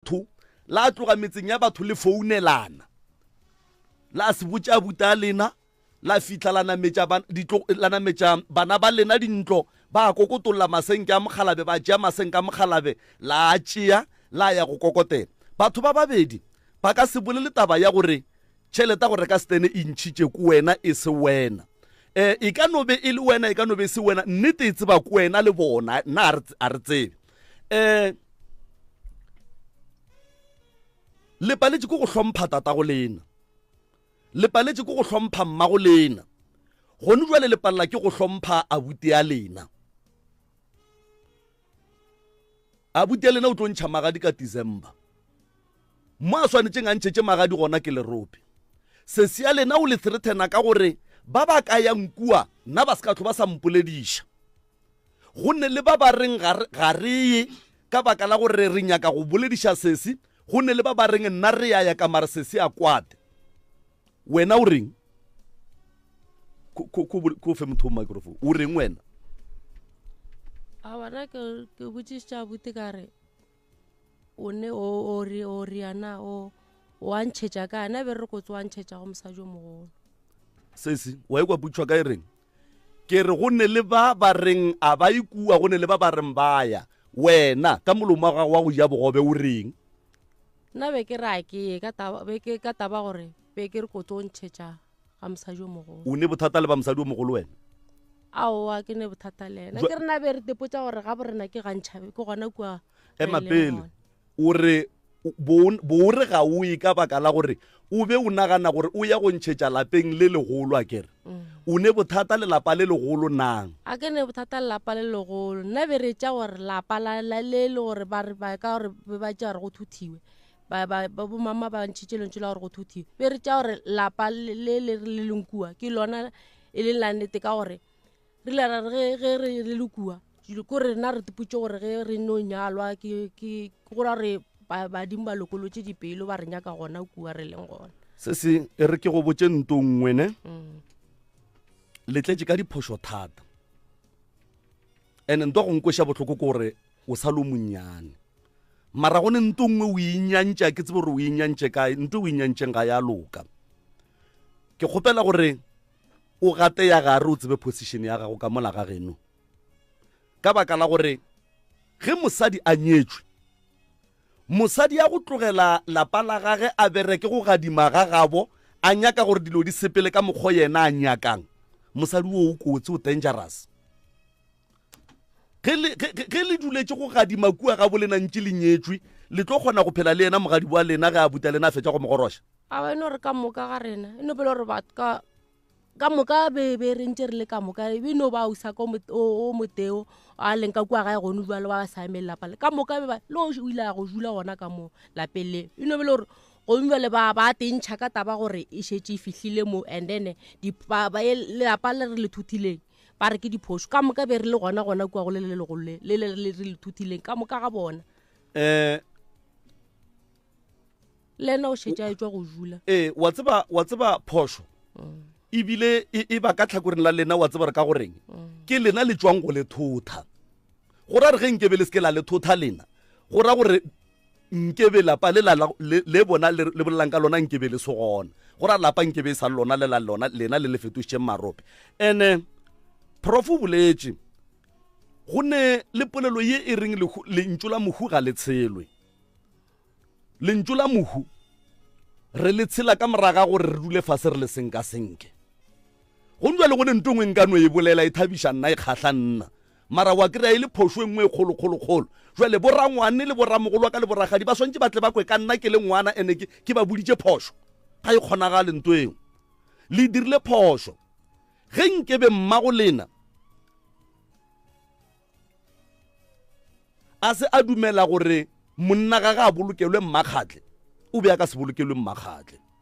batho, la tloga metseng ya batho le founelana, la se botša abuta a lena, la fihla la nametša ba- ditlo- la nametša bana ba lena dintlo, ba kokotolola masenke a mokgalabe, ba tšea masenke a mokgalabe, la a tšea, la ya go kokotela. Batho ba babedi ba ka se bolele taba ya gore tšhelete ya go reka setene e ntšhitše ko wena, e se wena. Um e ka no be e le wena, e ka no be e se wena, nnete e tseba ko wena le bona, nna a re tse- a re tsebe. um le paletše ko go hlompha tatago lena le paletše ko go hlompha mmago lena gone jwale le palela ke go hlompha abute ya lena abute ya lena o tlo ntšha magadi ka december mo a swanetseng a ntšhetse magadi gona ke lerope sesi ya lena o le threatena ka gore ba ba ka yang kua nna ba se ka tlho ba sa mpolediša Go ne le ba ba reng ga re, ga re ye, ka baka la gore re nyaka go bolediša sesi. Go ne le ba ba reng, Nna re ya ya, ka mare sesi a kwate. Wena o reng? Ko, ko, ko, ko fe motho o microphone. O reng wena? A bona ke, ke botšišitša abuti ka re, o ne o o re o re yana o o a ntšhetša ka ana be re kotse wa ntšhetša go mosadi o mogolo sesi wa ekwa putšhwa ka e reng ke re go ne le ba ba reng a ba ikua go ne le ba ba reng ba ya wena ka molomo wa gago wa go ja bogobe o reng nna be ke re a ke ye ka taba be ke ka taba gore be ke re kotse o ntšhetša ga mosadi o mogolo o ne bothata le ba mosadi o mogolo wena aowa ke ne bothata le ena ke rena be re tepotsa gore ga borena ke gantšhabe ke gona kua ema pele o re boore ga o e ka baka la gore o be o nagana gore o ya go ntšhetša lapeng le legolo a kere mm. o ne bothata le lapa le legolo nang a ke ne bothata le lapa le legolo nna be re tša gore lapa le le gore ba ka gore be ba tša gore go thuthiwe ba ba ba bomama ba ntšhitše lentšu la gore go thuthi be re tša gore lapa le le le re le leng kua ke lona e leng la nnete ka gore re ile ra re ge ge re re le kua jule ko rena re tepotše gore ge re no nyalwa ke ke ke go ra gore ba- badimo ba lokolotše dipelo ba re nyaka gona kua re leng gona se se e re ke go botše nto nngwe ne Mm. le tletše ka diphošo thata and nto go nkweša bohloko ke gore O sa le o monnyane. Mara go ne nto nngwe o inyantša, ke tsebe gore o inyantše kae, nto o inyantšeng ga ya loka. Ke kgopela gore o gate ya gare o tsebe position ya gago ka mola ga geno. Ka baka la gore ge mosadi a nyetšwe, mosadi ya go tlogela lapa la gage a bereke go gadima ga gabo, a nyaka gore dilo di sepele ka mokgwa yena a nyakang, mosadi wo o kotsi, o dangerous. Ge le, ge, ge, ge le duletše go gadima kua gabolena ntše le nyetšwe, le tlo kgona go phela le yena mogadibo wa lena ge a buta lena a fetša go mogoroša. Awa, e no re ka moka ga rena, e no bele gore batho ka, ka moka be, be re ntše re le ka moka, e be e no ba ausa ka o, o, o moteo a leng ka kua gae gone bjalo ba ba sa emele lapa le. Ka moka be ba, le o ile a go dula gona ka moo lapeng le. E no bele gore gomme bjale ba, ba tentšha ka taba gore e šetše e fihlile moo and then di, ba, ba, lelapa le re le thothileng. Ba re ke diphošo. Ka moka be re le gona gona kua go le le legolo le le le re le thutileng ka moka ga bona. Eh le ena o šetša etswa go jula ee wa tseba wa tseba phošo mm. ebile e, e ba ka tlhakoreng la lena wa tseba re ka goreng mm. ke lena le tswang go le thotha go ra re ge nkebe le seke la le thotha lena go ra gore nke be lapa le la le, le bona le, le bolelang ka lona nke be le se gona go ra lapa nke be e sa le lona le la lona lena le le fetošitšeng marope ene prof o boletše go ne le polelo ye e reng lentšu la mohu ga le tshelwe lentšu la mohu re le tshela ka moraga gore re dule fase re le seng ka senke go njwa le go ne nto ngwe nka no e bolela e thabiša nna e kgahla nna Mara wa kry-a e le phošo e nngwe e kgolokgolokgolo. Jwale borangwane le boramogolo wa ka le boragadi ba swantše ba tle ba kwe ka nna ke le ngwana and-e ke, ke ba boditše phošo. Ga e kgonagale nto eo. Le dirile phošo. Ge nkebe mmago lena a se a dumela gore monna gage a bolokelwe Mmakgatle, o be a ka se bolokelwe Mmakgatle.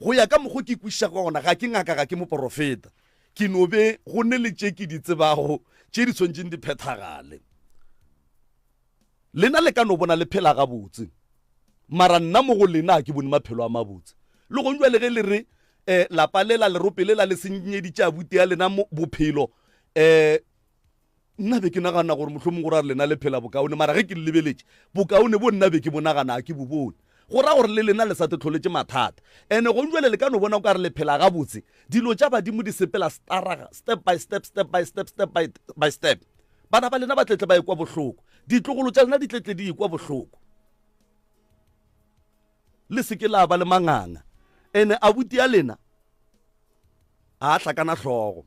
Go ya ka mokgo ke kwešišago ka gona, ga ke ngaka, ga ke moporofeta. Ke no be go ne le tše ke di tsebago tše di swanetšeng di phethagale. Lena le ka no bona le phela gabotse, mara nna mo go lena ga ke bone maphelo a mabotse. Le gong bjale ge le re, um, lapa lela, lerope lela le senyeditše abuti ya lena bophelo, um, Nna be ke nagana gore mohlomong go ra gore lena le phela bokaone, mara ge ke le lebeletše, bokaone bo nna be ke bo nagana ga ke bo bone. Go ra gore le lena le sa tlo tlholetše mathata. And gong bjale le ka no bona o ka re le phela gabotse. Dilo tša badimo di sepela staraga, step by step, step by step, step by by step. Bana ba lena ba tletle ba ekwa bohloko. Ditlogolo tša lena di tletle di ekwa bohloko. Le se ke la ba le manganga. And abuti a lena ga a hlakana hlogo.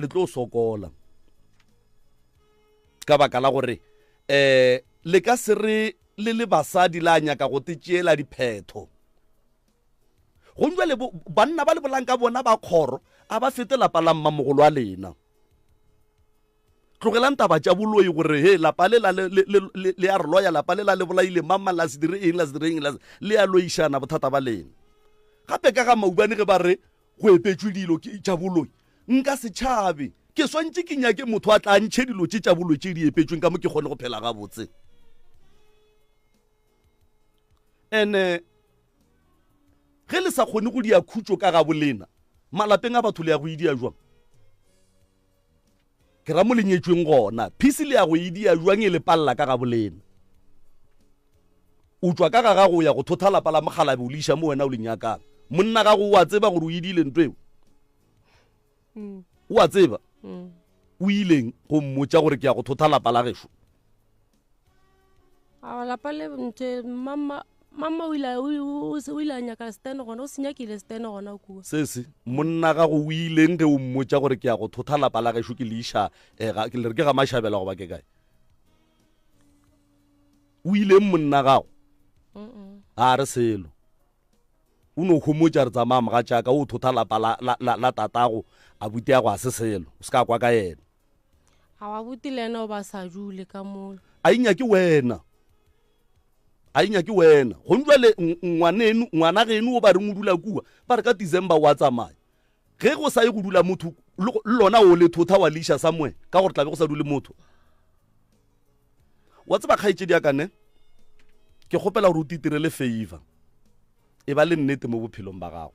le tlo sokola ka baka la gore eh le ka se re le le basadi la nyaka go te tšeela diphetho gong jale bo- banna ba le bolang ka bona ba kgoro a ba fete lapa la mmamogolo a lena tlogelang taba tša boloi gore he lapa le la le- le- le- le- le ya re loya lapa le la le bolaile mang mang la se dire eng la se dire eng la se- le ya loišana bothata ba lena gape ka ga maubane ge ba re Go epetšwe dilo ke tša boloi, nka se tšhabe. Ke swantše ke nyake motho a tla a ntšhe dilo tše tša boloi tše di epetšweng ka mo ke kgone go phela gabotse. And ge le sa kgone go dia khutšo ka gabolena, malapeng a batho le ya go e dia jwang? Ke ra mo le nyetšweng gona. Phisi le ya go e dia jwang e le palela ka gabolena? O tšwa ka ga gago o ya go thotha lapa la mokgalabe o le iša mo wena o le nyakang. Monna gago o a tseba gore o e dile ntweo? Mm. O a tseba? Mm. O ileng go mmotša gore ke ya go thotha lapa la gešo? a lapa le nte mama mama o ile o se o ile a nyaka stan gona o se nyakile stan gona kua sesi monna gago o ileng ge o mmotsa gore ke ya go thotha lapa la gešo ke leiša eh, ga- ke le re ke ga mašabela goba ke kae o ileng monna gago ga re selo o no homotsa re tsamaya moga jaaka o thotha lapa la- la- la la tatago a buteago a se selo o se ka kwa ka yena abuti le ena o ba sa dule ka mona a inya ke wena a inya ke wena gone jale ngwaneno ngwana geno o ba reng o dula kua ba re ka december wa tsamaya ge go sa ye go dula motho le lona o le thotha wa leisa somewhere ka gore tlabe go sa dule motho wa tseba kgaetsedi ya kane ke kgopela gore o titirele favor e ba le nnete mo bophelong ba gago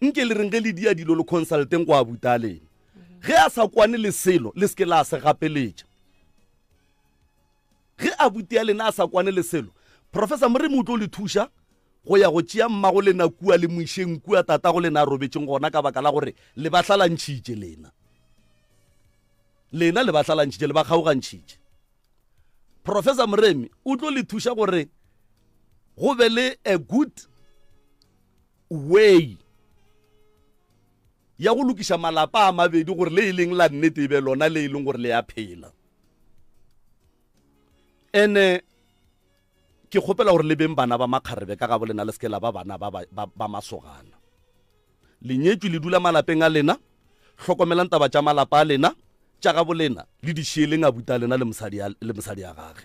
Nke le reng ge le dia dilo le consulteng go abuta a lena. Ge a sa kwane le selo le seke la se gapeletša. Ge abuti a lena a sa kwane le selo, Professor Moremi o tlo le thuša go ya go tšea mmago lena kua le mo išeng kua tatago lena a robetšeng gona ka baka la gore le ba hlalantšhitše lena. Lena le ba hlalantšhitše, le ba kgaogantšhitše. Professor Moremi o tlo le thuša gore go be le a good Way ya go lokiša malapa a mabedi gore le e leng la nnete e be lona le e leng gore le ya phela ene ke kgopela gore le beng bana ba makgarebe ka ga bo lena le seke la ba bana ba, ba, ba, ba masogana lenyetswe le dula malapeng a lena hlokomelang taba tša malapa a lena tša ga bo lena le di šieleng abuta lena le mosadi ya gage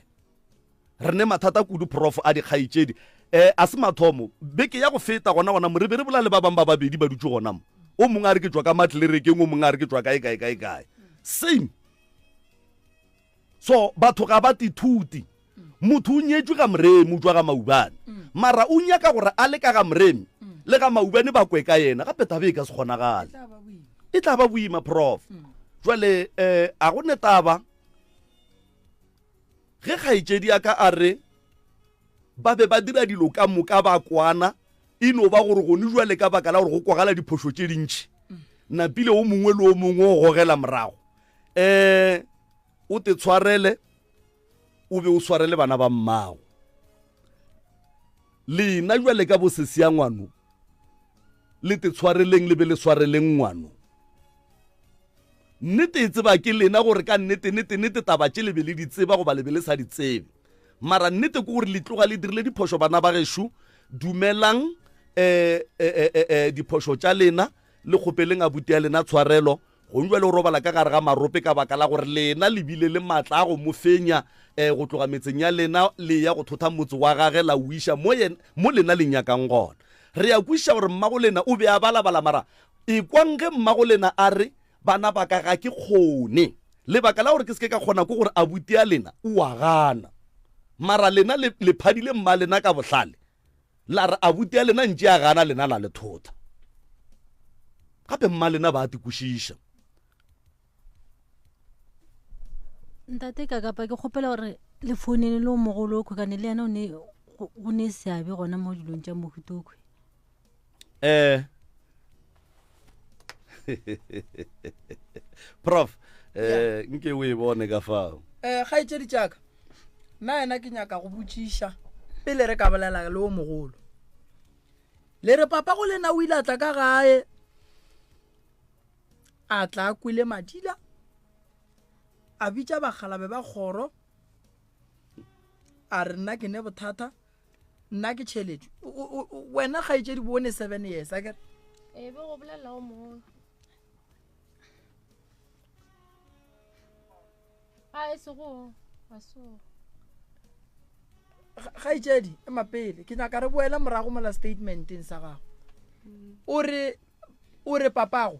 Re ne mathata kudu prof a dikgaetšedi. Eh, a se mathomo. Beke ya go feta gona gona mo re be re bola le ba bang ba babedi ba dutše gona mo. O mongwe a re ke tšwa ka matlerekeng, o mongwe a re ke tšwa kae kae kae kae. Same. So batho ga ba tithuti. Motho o nyetšwe ga moremi o tšwa ga maubane. Mara o nyaka gore a le ka ga moremi le ga maubane ba kwe ka yena. Gape taba e ka se kgonagale. E tla ba boima prof. Jwale eh a go ne taba Ge kgaetšedi ya ka a re ba be ba dira dilo ka moka ba kwana, e no ba gore gone jwale ka baka la gore go kwagala diphošo tše dintšhi napile o mongwe le o mongwe o gogela morago um o te tshwarele o be o sware le bana ba mmago lena jwale ka bosesiangwano le te tshwareleng le be le swareleng ngwano Nnete e tseba ke lena gore ka nnete, nnete, nnete taba tše le be le di tseba goba le be le sa di tsebe. Mara nnete ke gore le tloga le dirile diphošo bana ba gešo. Dumelang eh, eh, eh, eh, eh, diphošo tša lena, le kgopeleng abuti ya lena tshwarelo. Gong jwale o robala ka gare ga marope ka baka la gore lena le bile le matla a go mo fenya eh, go tloga metseng ya lena le ya go thotha motse wa gage la o iša mo, yen, mo lena le nyakang gona. Re ya kwešiša gore mmagolena o be a balabala mara Ekwang ge mmagolena a re, Bana ba ka, ga ke kgone. Lebaka la gore ke se ke ka kgona ke gore abuti ya lena o a gana. Mara lena le, le phadile mmalena ka bohlale, la re abuti ya lena ntše a gana, lena la le thotha. Gape mmalena ba a te kwešiša. Ntate Kakapa, ke kgopela gore le founele le o mogolo okhwe, kane le yena o ne, o, o ne seabe gona mo dilong tša mohuta okhwe. eh prof eh nke o e bone ka fao um kgaetšedi tšaka nna yena ke nyaka go botšiša pele re ka bolela le o mogolo le re papa go lena o ile a tla ka gae a tla a kwele madila a bitša bagalabe ba kgoro a re nna ke ne bothata nna ke tšheletšo wena ga etse dibone seven years a kere ee be go bolelela o mongwe a e sego a sego ga itsedi e mapele ke nyaka re boela morago mola statementeng sa gago mm. o re papago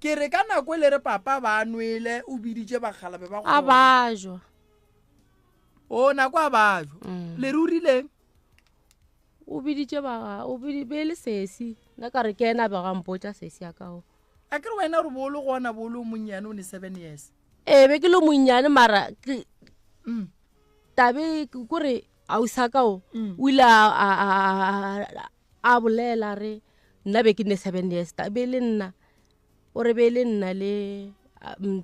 Ke re ka nako e le re papa ba nwele o biditše bakgalabe ba a bajwa o nako a bajwa mm. le rurileng o biditše ba o bidi be le sesi nna ka re ke ena ba ga mpotsa sesi ya kao a ke re wena re bolo go ona bolo monnyane o ne seven years ee be ke le monnyane mara mm. tabe kore ausa kao mm. o ile a bolela re nna be ke ne seven years ka be le nna o re be le nna le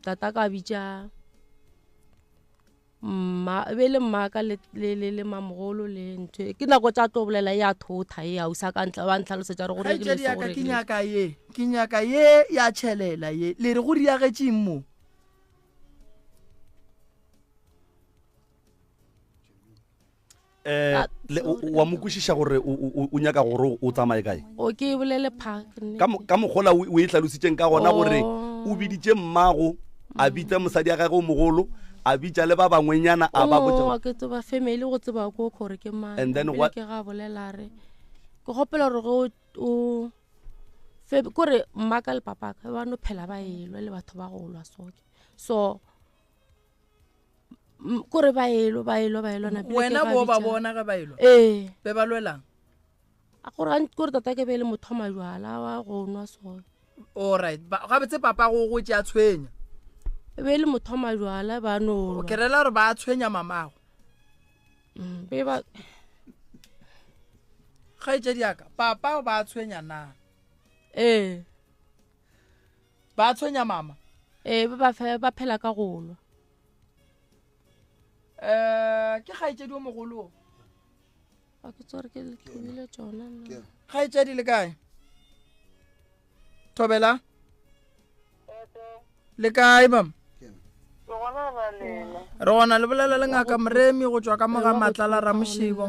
tata ka bitša mma be le mmaka le le le le mamogolo le ntho ke nako tša tlo bolela ya thotha e ausa ka ntla ba ntlhalosetša re gore ke ya ka ke nyaka ye ke nyaka ye ya chelela ye le re go riagetšeng mo Eh, le, o, o a mo kwešiša gore o, o, o- o nyaka gore o- o tsamaye kae o ke e bolele park nne. ka, mo- ka mokgola o o e hlalositseng ka gona gore Oh. o biditše mmago a bitsa mosadi ya gage o mogolo a bitsa le ba bangwenyana a ba botsa Oo, ke tseba family go tseba ko gore ke mang And then Pele what- ke ga bolela re ke gopela gore go o fam- kore mmaka le papaka ba no phela ba elwa le batho ba go lwa soke so M- kore ba elo ba elo ba elo na pele ke wena ga bo ba bitša. bona ge ba elo ee be ba lwelang a gore a- kore tata ke be e le motho wa majwala wa go nwa sone allright ba- gabotse papa go gotse a tshwenya e be e le motho wa majwala ba no ke rela gore ba tshwenya mamago be ba kgaetšedi yaka papa ba tshwenya na ee ba tshwenya mama ee ba ba fe ba phela ka golwa um ke kgaetšedi o mogolo a ke tsore ke letlhobile tsona kgaetšedi le kae thobela le kae mama re gona le bolela le ngaka moremi go tswa ka moga matlala ramošibo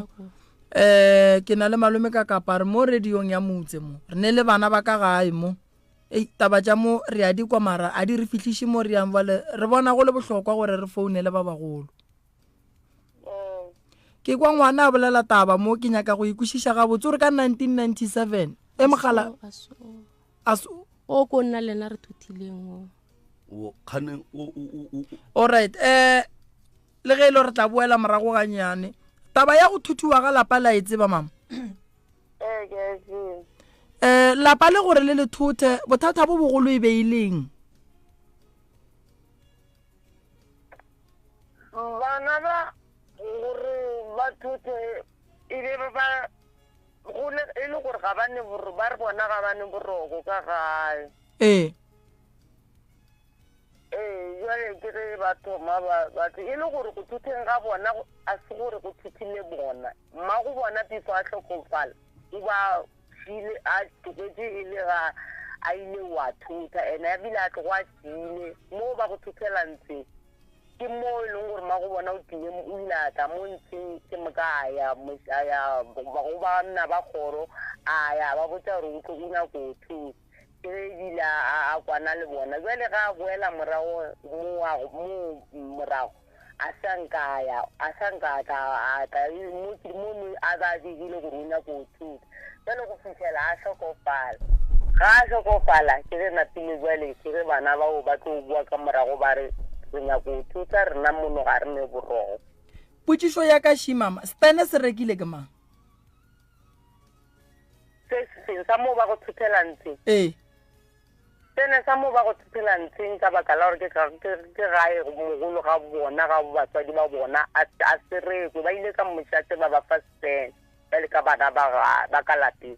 Um ke na le malome ka kapa re mo radiong ya motse mo re ne le bana ba ka gae mo ei taba tša mo re a di kwa mara a di re fihliše mo re yang bale re bona go le bohlokwa gore re founele ba bagolo ke kwa ngwana a bolela taba mo ke nyaka go ikwešiša gabotse gore ka 1997 e mogala o ko nna lena re thuthileng o kgane o right um Le ge e le gore re tla boela morago ganyane. Taba ya go thuthiwa ga lapa la e tseba, mama? Ee, ke a e tseba. Um lapa le gore le le thothe bothata bo bogolo e be e leng? Bana ba gore ba thothe e be ba gole e le gore ga ba ne ba re bona ga ba ne boroko ka gae. Ee. Ee, bjale ke ge ba thoma ba, batho, e le gore go thutheng ga bona go, a se gore go thuthile bona. Mma go bona before a hlokofala, o ba file, a tlogetše e le ga a ile wa thutha, ene a bile a tlogo a tiile. Moo ba go thuthelang tse, ke moo e leng gore mma go bona o tlile, o ile a tla mo ntsheng, ke moka a ya, a ya go banna ba kgoro, a ya ba botša gore o tlo, o nyako thutha. Ge a ebile a, a, a kwana le bona, bjale ge a boela morago, mowa, mo, morago, a sa nka a ya, a sa nka a tla, a tla, mo, mo, mo a ba begile gore o nyako go thuta. Bjale go fihlela a hlokofala. Ga a hlokofala, ke ge napile bjale, ke ge bana bao ba tlo boa ka morago ba re, Re nyako go thuta, rena mono ga re ne boroko. Potšišo ya ka, Shimama, Spene se rekile ke mang? Se seng sa mo ba go thuthela ntsheng. Ee. Se ne sa mo ba go thuthela ntsheng ka baka la gore ke ke gae mogolo ga bona ga batswadi ba bona a a serekwe ba ile ka mmoša tse ba ba fa span ba le ka bana ba ga ba ka lapeng.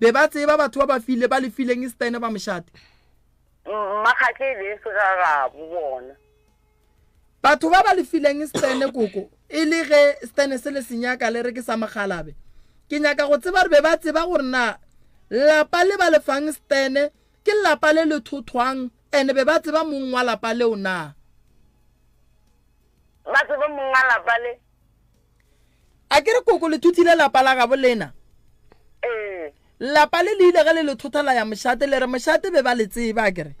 Be ba tseba batho ba ba file, ba le fileng Stene ba mošate. Mmakgatla e be e se gagabo bona. Batho ba ba le fileng Stene koko, e le ge Stene se le senyaka le re ke sa mokgalabe. Ke nyaka go tseba gore be ba tseba gore na lapa le ba le fang Stene ke lapa le le thothwang and be ba tseba mong wa lapa leo na? Ba tseba mong wa lapa le? a ke re koko le thothile lapa la gabo lena ee lapa le le ile ge le le thotha la ya mošate le re mošate be ba le tseba a kere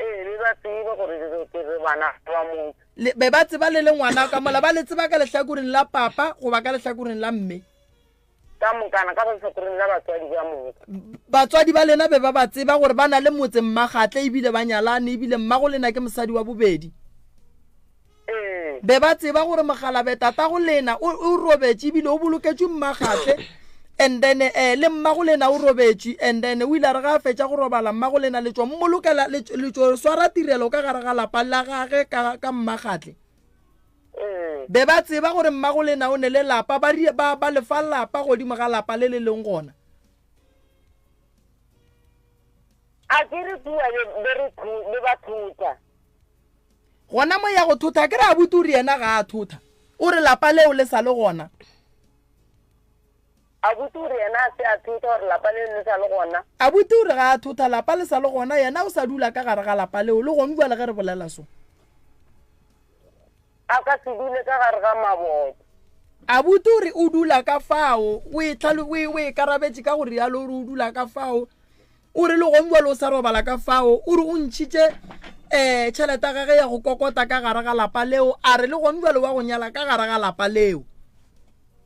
ee be ba tseba gore re ke re bana ba motho le- be ba tseba le le ngwana ka mola ba le tseba ka lehlakoreng la papa goba ka lehlakoreng la mme Ka mokana, ka lehlakoreng la batswadi ba moka. Batswadi ba lena be ba ba tseba gore ba na le motse, mmagatle, e bile ba nyalane, e bile mmago lena ke mosadi wa bobedi. Ee. Be ba tseba gore mogalabe tatago lena o, o robetše e bile o boloketšwe mmagatle. And then, eh, le mmago lena o robetše. And then, o ile a re ga a fetša go robala, mmago lena le tšo mmolokela, le, le tšo swara tirelo ka gare ga lapa la gage ka, ka mmagatle. Be ba tseba gore mmagolena o ne le lapa, ba rile ba, ba lefa lapa godimo ga lapa le le leng gona. A ke re kua be, be re thu, be ba thota. Gona mo ya go thotha, ke re abuti o re yena ga a thotha, o re lapa leo le sa le gona. Abuti o re yena a se a thotha gore lapa leo le sa le gona. Abuti o re ga a thotha lapa le sa le gona, yena o sa dula ka gare ga lapa leo le gonu bjale ge re bolela so. A ka se dule ka gare ga maboto. Abuti o re o dula ka fao, o e tlhalo, o e, o e karabetše ka go realo, o re o dula ka fao. O re le gonu bjale o sa robala ka fao. O re o ntšhitše um tšhelete ya gage ya go kokota ka gare ga lapa leo, a re le gonu bjale wa go nyala ka gare ga lapa leo.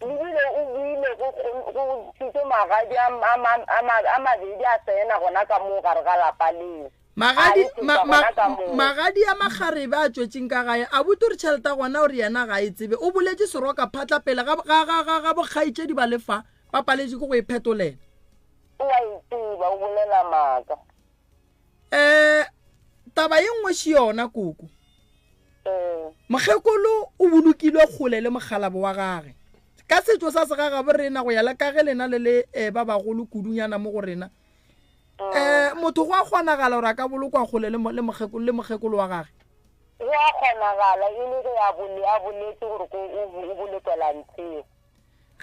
Ebile o buile go, go, go ntšhitše magadi a, a, ma, a, ma, a mabedi a tsena gona ka moo gare ga lapa leo. Magadi, A e ma, tloša ma, gona ka moo. magadi a makgarebe a tšwetšeng ka gae, a botse gore tšhelete ya gona o re yena ga a e tsebe. O boletše seroka phatla pele ga, ga, ga, ga, ga bokgaetšedi ba le fa, ba paletšwe ke go e phetolela. O a e tseba, o bolela maaka. um taba ye nngwe še yona koko eh. mokgekolo o bolokilwe kgole le mokgalabo wa gage ka setšo sa segagabo rena go ya le ka ge lena le le um ba bagolo kudunyana mo go rena um motho go a kgonagala gore a ka bolokwa kgole le mokgekolo wa gage go a kgonagala e le ge a boletse gore o bolekwela ntshego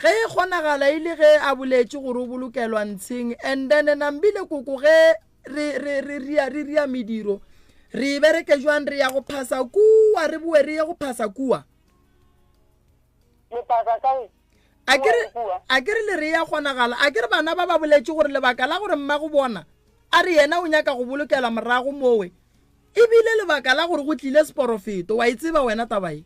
Ge e kgonagala e le ge a boletše gore o bolokelwa ntsheng and then Nambile koko ge re re re ria re ria mediro re e bereke jwang re ya go phasa kua re boe re ye go phasa kua Lephasa kae? a ke re a ke re le re ya kgonagala a ke re bana ba ba boletše gore lebaka la gore mma go bona a re yena o nyaka go bolokelwa morago mowe e bile lebaka la gore go tlile seporofeto wa e tseba wena taba e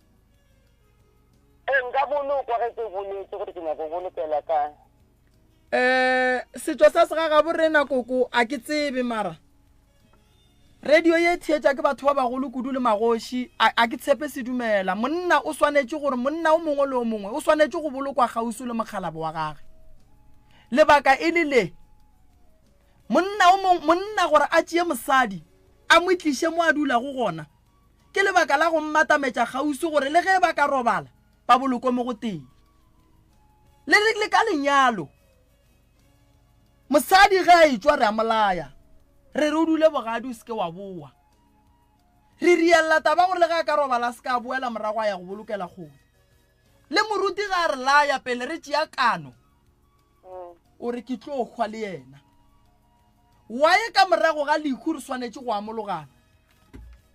e nka bolokwa ge ke boletše gore ke nyako bolokela ka um setšo sa segagabo rena koko a ke tsebe mara radio ye theetša ke batho ba bagolo kudu le magoši a ke tshepe se dumela monna o swanetše gore monna o mongwe le o mongwe o swanetše go bolokwa kgauso le mokgalabo wa gage lebaka e le le monna o mongwe monna gore a tšee mosadi a mo tliše mo a dulago gona Ke lebaka la go mmatametša kgauswi gore le ge ba ka robala, ba bolokwe mo go tee. Le, le, le ka lenyalo. Mosadi ge a etšwa, re a mo laya, re re o dule bogadi, o se ke wa bowa. Re rialla taba ya gore le ge a ka robala a se ka boela morago a ya go bolokela kgole. Le moruti ge a re laya pele re tšea kano, o re ke tlo hwa le yena. Waye ka morago ga lehu re swanetše go amologana.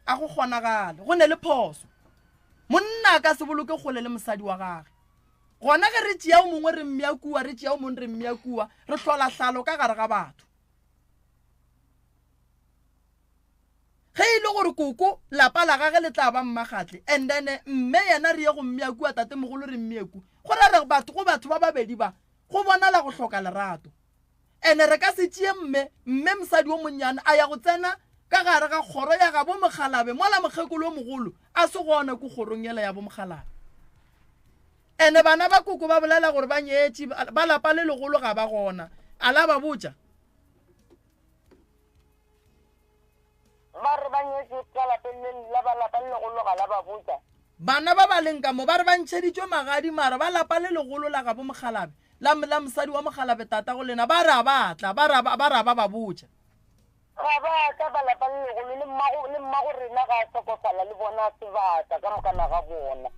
A go kgonagale. Go ne le phoso. Monna a ka se boloke kgole le mosadi wa gage. Gona ge re tšea o mongwe re mmea kua, re tšea o mongwe re mmea kua, re hlola hlalo ka gare ga batho. Ge e le gore koko, lapa la gage le tla ba mmagatle, and then mme yena re ye go mmea kua, tatemogolo re mmee kua, go ra re batho go batho ba babedi ba, go bonala go hloka lerato. Ene re ka se tšee mme, mme mosadi yo monnyane a ya go tsena ka gare ga kgoro ya gabo Mokgalabe mola mokgekolo yo mogolo a se gona ku kgorong yela ya bo Mokgalabe. Ene bana ba koko ba bolela gore ba nyetše, ba lapa le legolo ga ba gona. A la ba botša. Ba re ba nyetšwe ka lapeng le la ba lapa le legolo ga la ba botša. Bana ba ba leng ka mo ba re ba ntšheditšwe magadi mara ba lapa le legolo la gabo Mokgalabe, la, la mosadi wa Mokgalabe tatago lena ba re a ba tla, ba re, ba re a ba ba botša. Ga ba tla ba lapa le legolo le mmago, le mmago rena ga a hlokofala le bona sebata ka mokana ga bona.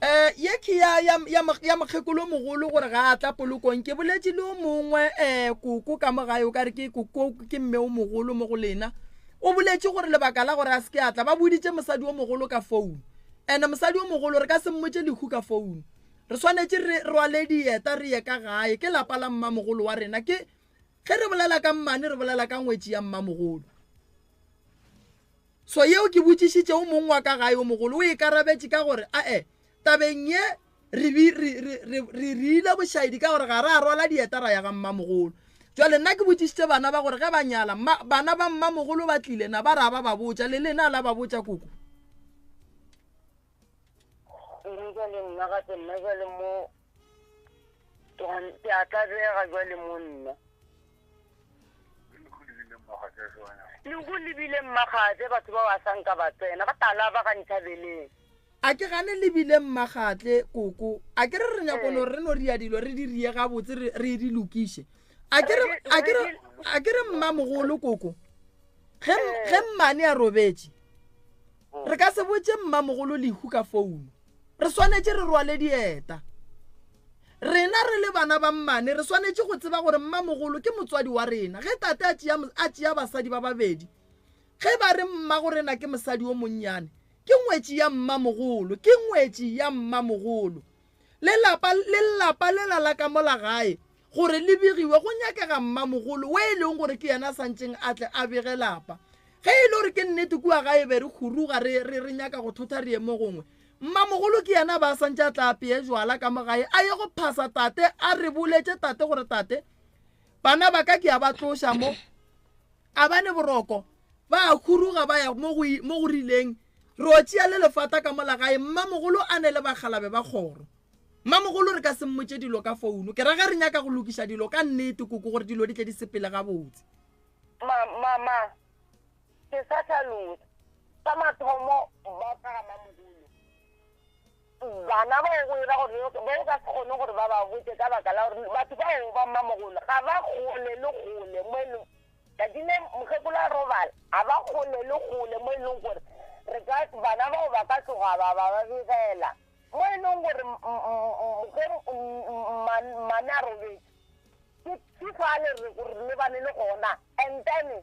Um ye ke ya, ya, ya, ya mokgekolomogolo gore ga a tla polokong ke boletše le o mongwe um koko ka mo gae o ka re ke koko ke mme o mogolo mo go lena o boletše gore lebaka la gore a se ke a tla ba boditše mosadi o mogolo ka founu and mosadi o mogolo re ka se mmotše lehu ka founu re swanetše re rwale dieta re ye ka gae ke lapa la mmamogolo wa rena ke Ge re bolela ka mmane re bolela ka ngwetši ya mmamogolo. So yeo ke botšišitše o mong wa ka gae o mogolo, o ikarabetše ka gore, A-e, tabeng ye re, re, re, re, re rile bošaedi ka gore ga ra rwala dieta ra ya ga mmamogolo. Jwale nna ke botšišitše bana ba gore ge ba nyala, mma, bana ba mmamogolo ba tlile, na ba ra ba ba botša, le lena la ba botša koko? Eng jwale nna gape, nna jwale mo Ke a tlabega jwale monna. Le go lebile mmagatse batho ba ba sanka ba tsena ba tala ba ga nthabeleng. A ke gane lebile mmagatle koko a ke re re nyako no re no ria dilo re di rie ga botse re re di lokiše a ke re a ke re a ke re mmamogolo koko ge ge mmane a robetše Re ka se botše Mmamogolo Lehu ka founo. Re swanetše re rwale dieta. Rena re le bana ba mmane re swanetše go tseba gore Mmamogolo ke motswadi wa rena. Ge Tate a tšea, a tšea basadi ba babedi, ge ba re Mmagorena ke mosadi o monnyane, ke ngwetši ya Mmamogolo, ke ngwetši ya Mmamogolo. le lapa le lapa lela la ka mola gae gore le begiwe go nyakega mmamogolo we e leng gore ke yena a santšeng a tle a bege lapa ge e le gore ke nnete kua gae be re khuruga re re re nyaka go thotha re yemo gongwe mmamogolo ke yena ba santše a tla apeye jwala ka mo gae a ye go phasa tate a re boletše tate gore tate bana ba ka ke a ba tloša mo A ba le boroko, ba a huruga ba ya mo go, mo go rileng. Re o tšea le lefata ka mola gae, Mmamogolo a ne le bakgalabe ba kgoro. Mmamogolo re ka se mmotše dilo ka founo, ke ra ge re nyaka go lokiša dilo ka nnete, Koko, gore dilo di tle di sepele gabotse. Ma, ma, ma, ke sa hlalosa. Sa mathomo, ba ka ga Mmamogolo. Bana bao go ira gore le ba o ka se kgone gore ba ba botše ka baka la gore batho bao ba mmamogolo ga ba kgole le kgole mo e leng tšatši le mokgekolo a robala ga ba kgole le kgole mo e leng gore re ka bana bao ba ka tloga ba ba ba begela mo e leng gore ge mmane a robetše ke ke fale re lebane le gona and then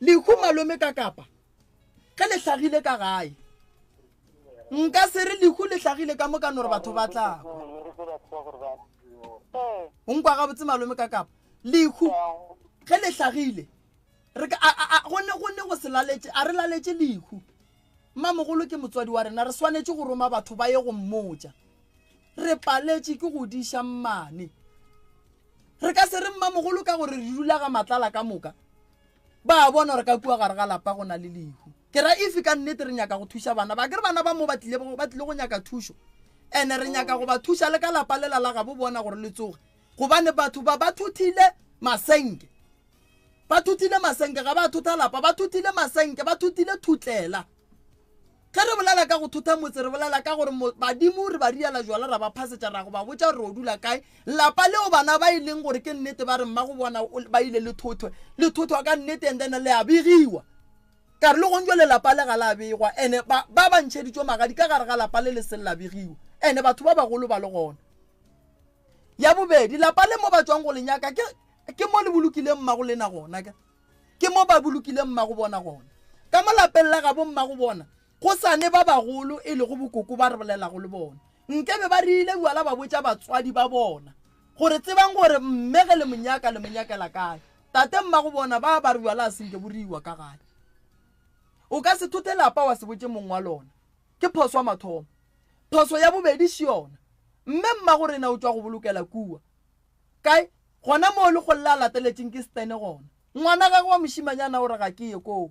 Lehu malome ka kapa ge le hlagile ka gae nka se re lehu le hlagile ka mokano gore batho ba tla o nkwa gabotse malome ka kapa lehu ge le hlagile go ne go se laletše a re laletše lehu Mmamogolo ke motswadi wa rena, re swanetše go roma batho ba ye go mmotša. Re paletše ke go diša mmane. Re ka se re mmamogolo ka gore re dula ga Matlala ka moka. Ba a bona gore ka kua gare ga lapa go na le lehu. Ke ra if ka nnete re nyaka go thuša bana ba, akere bana ba mo ba tlile, ba tlile go nyaka thušo. And re nyaka go ba thuša le ka lapa lela la gabo bona gore le tsoge. Gobane batho ba ba thothile masenke. Ba thutile masenke, ga ba thutha lapa, ba thutile masenke, ba thutile thutlela. Ge re bolela ka go thutha motse, re bolela ka gore badimo re ba riela jwala, ra ba phasetša, ra go ba botša gore o dula kae. Lapa leo bana ba e leng gore ke nnete ba re mma go bona ba ile le thothwe, le thothwa ka nnete and then le a begiwa. Ka re le gong jwale lapa le ga la begwa ene ba ba ba ntšheditšwe magadi ka gare ga lapa le le se la begiwa ene batho ba bagolo ba le gona. Ya bobedi, lapa le mo ba tšwang go le nyaka ke ke mo le bolokileng mmago lena gona ka ke mo ba bolokileng mmago bona gona ka mo lapeng la gabo mmago bona go sane ba bagolo e lego bokoko ba re bolelago le bona nke be ba rile bjala ba botša batswadi ba bona gore tsebang gore mme ge le monyaka le monyakela kae tate mmago bona ba ba re bjala a senke bo riwa ka gae o ka se thothe lapa wa se botše mong wa lona ke phoso ya mathomo phoso ya bobedi se yona mme mmago rena o tšwa go bolokela kua Kae? Gona moo lekgole le a lateletšeng ke Stene gona. Ngwana gagwe wa mošimanyana o re ga ke ye koo.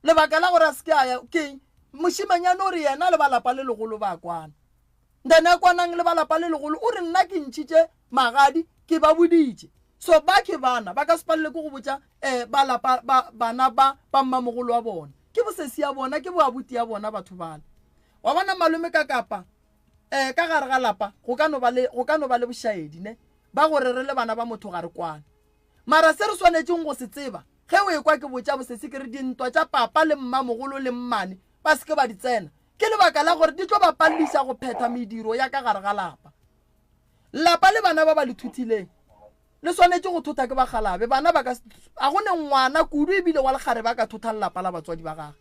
Lebaka la gore a se ke a ya ke eng? Mošimanyana o re yena le ba lapa le legolo ba kwana. Ndane a kwanang le ba lapa le legolo o re nna ke ntšhitše magadi ke ba boditše. So ba ke bana ba ka se palelwe ke go botša eh ba lapa ba bana ba ba mmamogolo wa bona. Ke bosesi ya bona, ke boabuti ya bona batho bale. Wa bona malome ka kapa Ee, ka gare ga lapa go ka no ba le, go ka no ba le bošaedi, ne, ba gore re le bana ba motho ga re kwane. Mara se re swanetšeng go se tseba, ge o ekwa ke botša bosesi ke re dintwa tša papa le mmamogolo le mmane ba se ke ba di tsena, ke lebaka la gore di tlo ba palliša go phetha mediro ya ka gare ga lapa. Lapa le bana ba ba le thuthileng le swanetše go thotha ke bakgalabe. Bana ba ka se, ga go ne ngwana kudu ebile wa lekgarebe a ka thothang lapa la batswadi ba gage.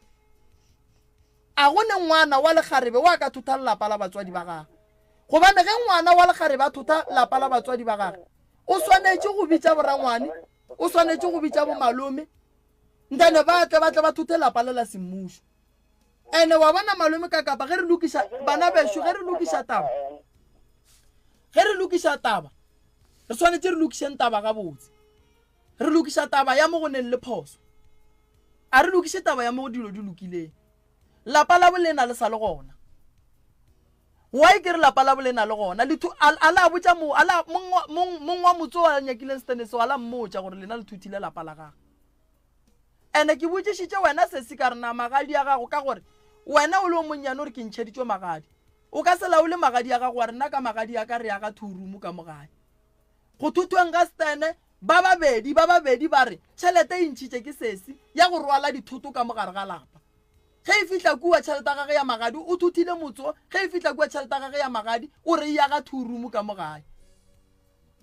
A go ne ngwana wa lekgarebe wa ka thotha lelapa la batswadi ba gagwe? Gobane ge ngwana wa lekgarebe a thotha lapa la batswadi ba gagwe, o swanetše go bitša borangwane, o swanetše go bitša bomalome, nthane ba tle ba tle ba thothe lapa le la semmušo. Ene wa bona, malome, ka kapa ge re lokiša, bana bešo, ge re lokiša taba, ge re lokiša taba, re swanetše re lokišeng taba gabotse. Re lokiša taba ya mo go neng le phoso. A re lokiše taba ya mo go dilo di lokileng. Lapa la bolena le sa le gona. Why ke re lapa la bolena le gona? Le thu, a, a la botša mo, a la, mong, mong, mong wa motse wa nyakileng stand seo, a la mmotša gore lena le thuthile lapa la gagwe. Ene ke botšišitše wena sesi ka re na magadi a gago ka gore wena o le o monnyane o re ke ntšheditšwe magadi. O ka se laole magadi a gago wa re nna ka magadi a ka re aga two room ka mo gae. Go thotweng ga Stene, ba babedi ba babedi ba re tšhelete e ntšhitše ke sesi ya go rwala dithoto ka mo gare ga lapa. Ge e fihla kua tšhelete ya gagwe ya magadi o thothile motse wo, ge e fihla kua tšhelete ya gagwe ya magadi o re e ya ga two room ka mo gae.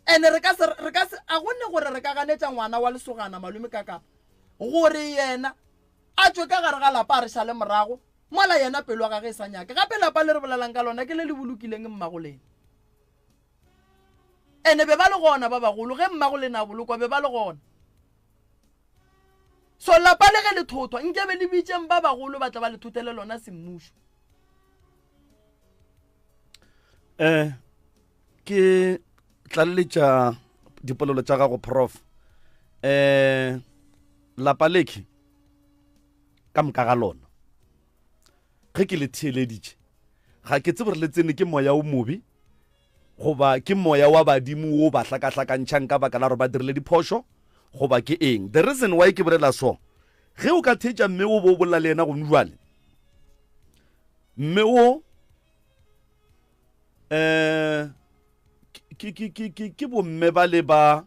Ene re ka se, re ka se, a go ne gore re ka ganetša ngwana wa lesogana malome ka kapa gore yena a tšwe ka gare ga lapa a re šale morago mola yena pelo ya gagwe e sa nyake. Gape lapa le re bolelang ka lona ke le le bolokileng mmago lena. Ene be ba le gona ba bagolo, ge mmago le na bolokwa, be ba le gona. So lapa le ge le thothwa, nke be le bitšeng ba bagolo ba tle ba le thothele lona semmušo. Eh, ke tlaleletša dipolelo tša gago prof eh lapa leke ka moka ga lona ge ke le theeleditše ga ke tsebe re le tsene ke moya o mobe goba ke moya wa badimo o ba hlakahlakantšhang ka baka la gore ba dirile diphošo goba ke eng the reason why ke bolela so ge o ka theetša mme o bo o bolela le yena gone jale mme o um ke bomme ba le ba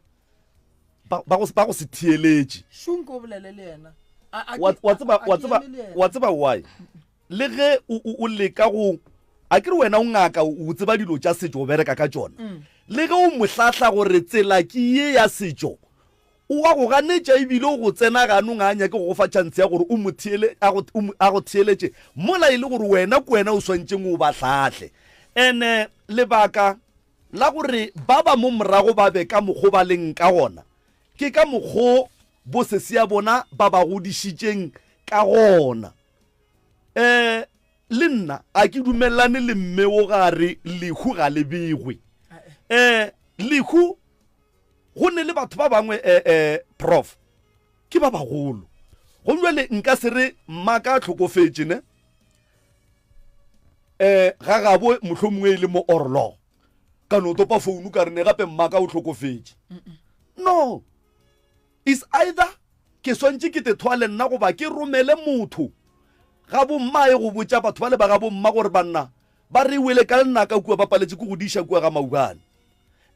ba go se theeletše wa tseba why le ge o leka go a ke re wena o ngaka o tseba dilo tša setšo o bereka ka tšona mm. le ge o mohlahla gore tsela ke ye ya setšo O a go ganetša e bile o go tsena ganong, ga a nyake go go fa tšhanse ya gore o mo theele, a go, o mo, a go theeletše, mola e le gore wena ke wena o swantšeng o ba hlahle. And-e lebaka la gore ba ba mo morago ba be ka mokgo ba leng ka gona, ke ka mokgo bosesea bona ba ba godišitšeng ka gona. Um le nna ga ke dumelelane le mme wo, ga a re lehu ga le begwe. Um lehu Go nne le batho ba bangwe, eh, eh, Prof. Ke ba bagolo. Gong jwale nka se re mmaka a tlhokofetše, ne? Eh, ga gabo mohlo mongwe e le mo orlo. Ka no topa founu ka re ne gape mmaka o tlhokofetše. No. Is either ke swantše ke te thoa le nna goba ke romele motho ga bommae go botša batho ba le ba ga bomma gore banna Ba re e wele ka lenaka kua ba paletše ke go di iša kua ga Maubane.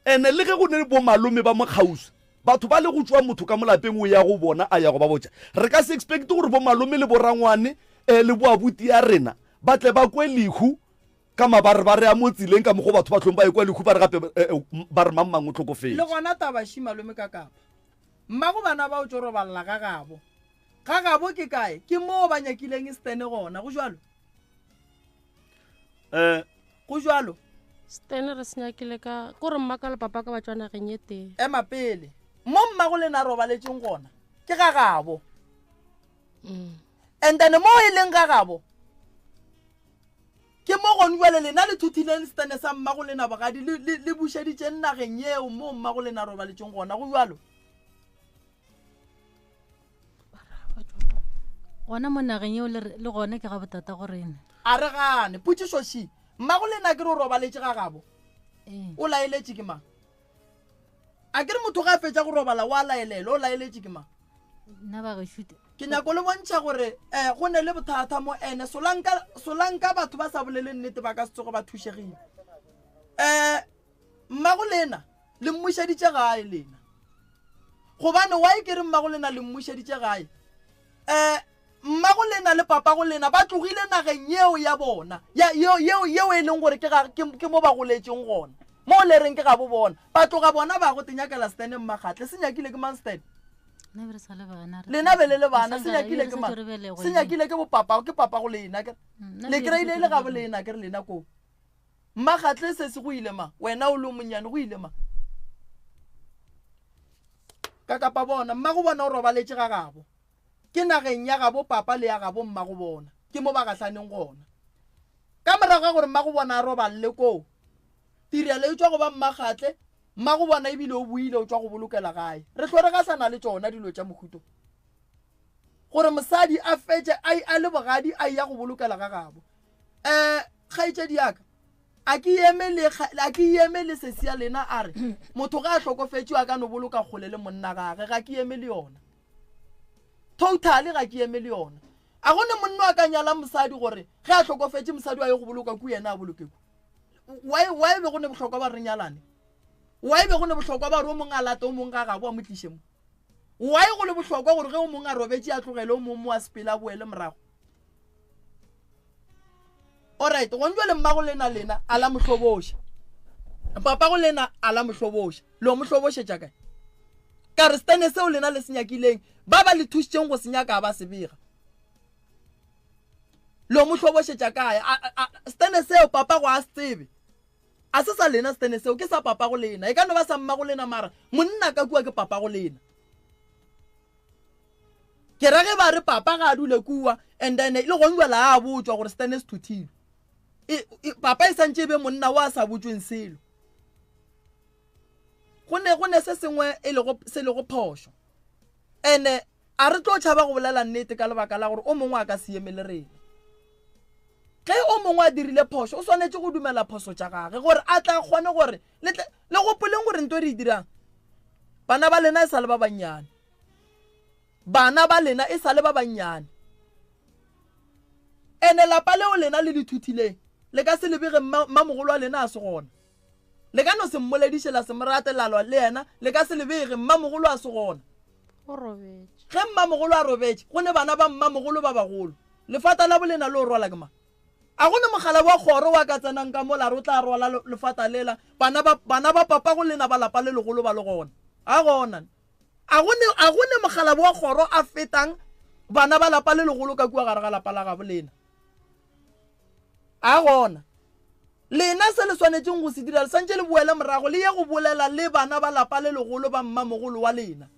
Ene le ge go ne le bomalome ba mokgauswi, batho ba le go tšoa motho ka molapeng o ya go bona a ya go ba botša, re ka se expect gore bomalome le borangwane le boabuti ya rena ba tle ba kwe lehu ka mabarebare a mo tseleng ka mokgwa o batho ba hlong ba ekwa lehu ba re gape ba re mang-mang o hlokofetše. Le gona taba shi malome ka Kapa. Mmago bana ba o tšo robalela ga gabo. Ga gabo ke kae? Ke moo ba nyakileng e stene gona, go jwalo? um go jalo stene re senyakile ka ko re mmaka le papa ka batswana ge nye tee ema pele mo mmago le na robaletseng gona ke ga gabo mm. and then mo e leng ga gabo ke mo gone jale lena le thuthileng stene sa mmago le nabogadi le bušeditseng nageng yeo mo mmago le na robaletseng gona go jalo gona mo nageng eo le gone ke ga botata go rena a re gane potšiso še mmago le nna ke re o robaletše ga gabo eh. o laeletše ke mang a ke re motho ga a fetsa go robala wa laelelo o laeletše ke mang nna ba gešute ke nyako le bontšha gore um go ne le bothata mo ene solanka batho ba sa bolele nnete ba ka setsogo ba thušegile um mmago le ena Le mmušeditše gae lena. Gobane wa e ke re mmagolena le mmušeditše gae? Eh, mmagolena le papagolena ba tlogile nageng yeo ya bona, ya, yeo, yeo, yeo e leng gore ke, ga, ke, ke mo ba goletšeng gona. Moo le reng ke gabo bona. Ba tloga bona ba go te nyakela Stan Mmakgatle. Se nyakile ke mang Stan? Lena be re sa le bana. Lena be le le bana. Se nyakile ke mang? Se nyakile ke bopapa, ke papagolena. Ke, mm, le kreile e le gabo lena, ke re lena koo. Mma Gatle sesi go ile ma, wena o le o monnyane go ile ma. Ka kapa bona, mma go bona o robaletše ga gabo. Ke nageng ya gabo papa le ya gabo mma go bona. Ke mo ba gahlaneng gona. Ka morago ga gore mma go bona a roballe koo, tirelo e tšwa go ba mma Gatle, mma go bona ebile o boile o tšwa go bolokela gae. Re hlo re gahlana le tšona dilo tša mohuto. Gore mosadi a fetše a, a le bogadi a eya go bolokela ga gabo. um kgaetšedi yaka a ke eme le kga- a ke eme le sesi ya lena a re motho ga a hlokofetšwe a ka no boloka kgole le monna gage ga ke eme le yona totally ga ke eme le yona a go ne monna a ka nyala mosadi gore ge a hlokofetše mosadi wa ye go boloka ku yena a boloke ku why why be go ne bohlokwa ba re nyalane why be go ne bohlokwa ba re o mongwe a late o mongwe ga gabo a mo tliše mo why go le bohlokwa gore ge o mongwe a robetše a tlogele o mongwe mo a sepele a boele morago orit gone jale mmago lena lena a la mohloboša papa go lena a la mohloboša lo mohlobošetša kae ka re stene seo lena le se nyakileng ba ba le thušitseng go se nyaka ba se bega lo mo hlobošetša kae stene seo papa go a se tsebe a se sa lena stene seo ke sa papa go lena e ka no ba sa mma go lena mara monna ka kua ke papa go lena Ke ra ge ba re papa ga a dule kua and then e le gong jwale a botšwa gore Stan se thuthilwe. E, e, papa e santše e be monna wa sa botšweng selo. Go ne go ne se sengwe e lego se lego phošo. Ene a re tlo tšhaba go bolela nnete ka lebaka la gore o mongwe a ka se eme le rena. Ge o mongwe a dirile phošo o swanetše go dumela phoso tša gage gore a tla kgone gore Le tle le gopoleng gore nto e re e dirang, bana ba lena e sa le ba bannyane. Bana ba lena e sa le ba bannyane. Ene lapa leo lena le le thuthileng, le ka se le bege mma, mmamogolo wa lena a se gona. Le ka no se mmolediše, la se mo rate, la lwa le yena, le ka se le bege, mmamogolo a se gona. O robetše. Ge mmamogolo a robetše, go ne bana ba mmamogolo ba bagolo. Lefata la bolena le o rwala ke mang? A go na mogala wa kgoro wa ka tsenang ka mola? Ro tla rwala lefata lela. Bana ba, bana ba papago lena ba lapa le legolo ba le gona. A go na? A go ne, a go ne mogala wa kgoro a fetang bana ba lapa le legolo ka kua gare ga lapa la gabo lena? A go na? Lena se le swanetšeng go se dira, le swantše le boele morago le ye go bolela le bana ba lapa le legolo ba mmamogolo wa lena.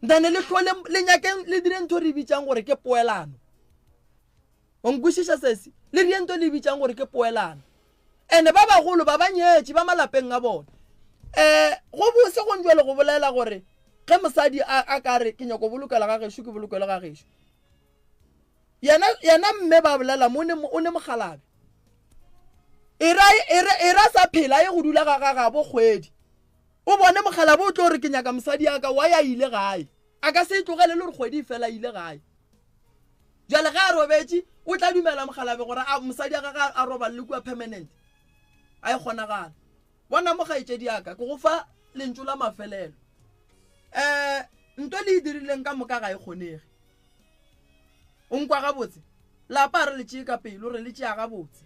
Nthane le hlole le nyakeng le dire ntho re bitšang gore ke poelano. O nkwešiša sesi? Le dire ntho le bitšang gore ke poelano. Ene ba bagolo ba ba nyetše ba malapeng a bona. Eh go bose go njwale go bolela gore ge mosadi a, a ka re ke nyako bolokela ga gešo ke bolokelo ga gešo. Yena, yena mme ba bolela mo ne, o ne mogalabe. Era, era, era sa phela ye go dula ga, ga, ga bo kgwedi. O bone mokgalabje o tlo re ke nyaka mosadi ya ka, why a ile gae? A ka se e tlogele le gore kgwedi e fela a ile gae. Bjale ge a robetše, o tla dumela mokgalabje gore a mosadi ya gage a roballe kua permanent? A e kgonagala. Bona mo kgaetšedi ya ka, ke go fa lentšu la mafelelo. Um nto le e dirileng ka moka ga e kgonege. O nkwa gabotse? Lapa a re le tšee ka pelo, re le tšea gabotse.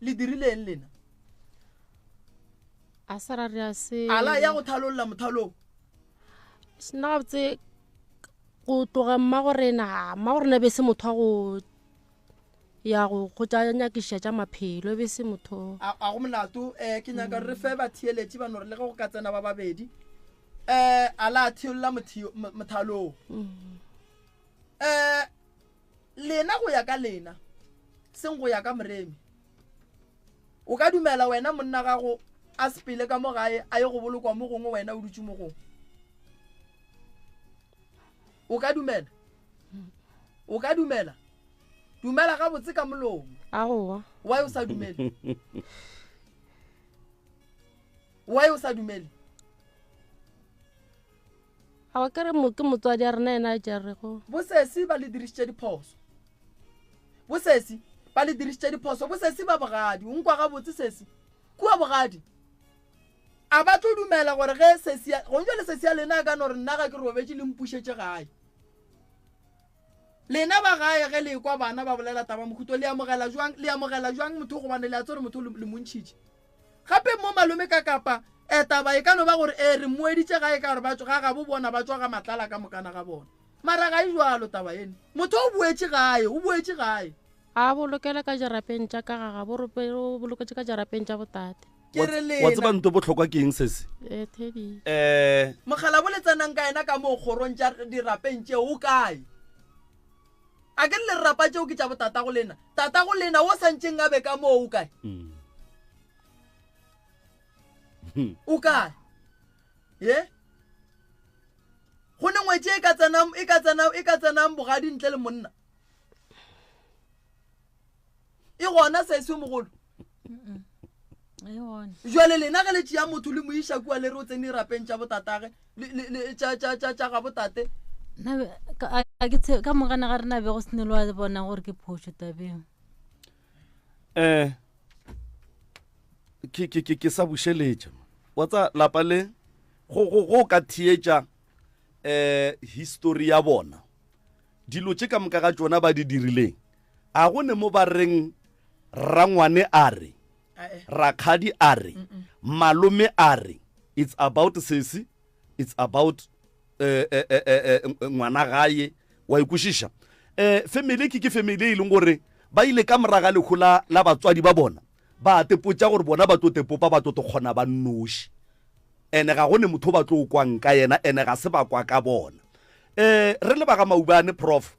le dirileng lena a sa ra re a se ala ya go thalolla mothalong sena gabotse go tloga mma gorena mma gorena be se motho wa go ya go go tša nyakiša tša maphelo e be se motho a a go molato um ke nyaka re fe batheeletše ba nore le ge go ka tsena ba babedi um a la theolola mothalong um lena go ya ka lena seng go ya ka moremi o ka dumela wena monna gago a sepele ka mo gae a ye go bolokwa mo gongwe wena o dutse mo gongwe o ka dumela o ka dumela dumela gabotse ka molomo aowa wa o sa dumele wa o sa dumele a wa kere mo ke motswadi a rena ena a jarego bosesi ba le dirisitše diphoso bosesi ba le dirisitše diphoso bosesi ba bogadi o nkwa gabotse sesi kua bogadi a ba tlo dumela gore ge sesi go njwa le sesi ya lena a ka no re nna ga ke robetše le mpušetše gae lena ba gae ge le kwa bana ba bolela taba mokhuto le amogela jwang le amogela jwang motho gobane le a tsere motho le montšhitše Gape mo malome ka kapa eh, taba e ka no ba gore eh, re moeditše ga e ka gore ba tšo ga gabo bona ba tšwa ga matlala ka mokana ga bona. Mara ga e jwalo taba ene. Motho o boetše gae, o boetše gae. A bolokele ka jarapeng tša ka ga gabo re o boloketše ka jarapeng tša botate. Ke re lena. Wa tseba nto bohlokwa ke eng sese? Eh, Teddy. Eh. Mokgalabo le tsenang ka yena ka moo kgorong tša dirapeng tšeo o kae? A ke le lerapa tšeo ke tša botatago lena, tatago lena wo santšeng a be ka moo o kae? Hmm. Hmm. O kae? Ye? Go ne ngwetše e ka tsenang e ka tsenang e ka tsenang bogadi ntle le monna. e gona sese yo mogolo jale lena ge le tšea motho le moiša kua le re o tsene rapeng tša botatage tša ga botate ka mogana ga rena bego se ne le wa bona gore ke phošo tabeng um ke sa bušeletša wa tsa lapa le go ka theetša um eh, histori ya bona dilo tše ka moka ga tšona ba di dirileng a go ne mo ba reng rangwane a re rakgadi a re malome a re it's about sesi it's about eh, eh, eh, ngwana gaye wa ikwešiša um family ke ke family e leng gore ba ile ka moraga lekgo la batswadi ba bona ba tepotsa gore bona ba tlo tepopa ba tlo to kgona ba nnoši ene ga go ne motho ba tlo kwang ka yena ene ga se ba kwa ka bona um re le ba ga maubane prof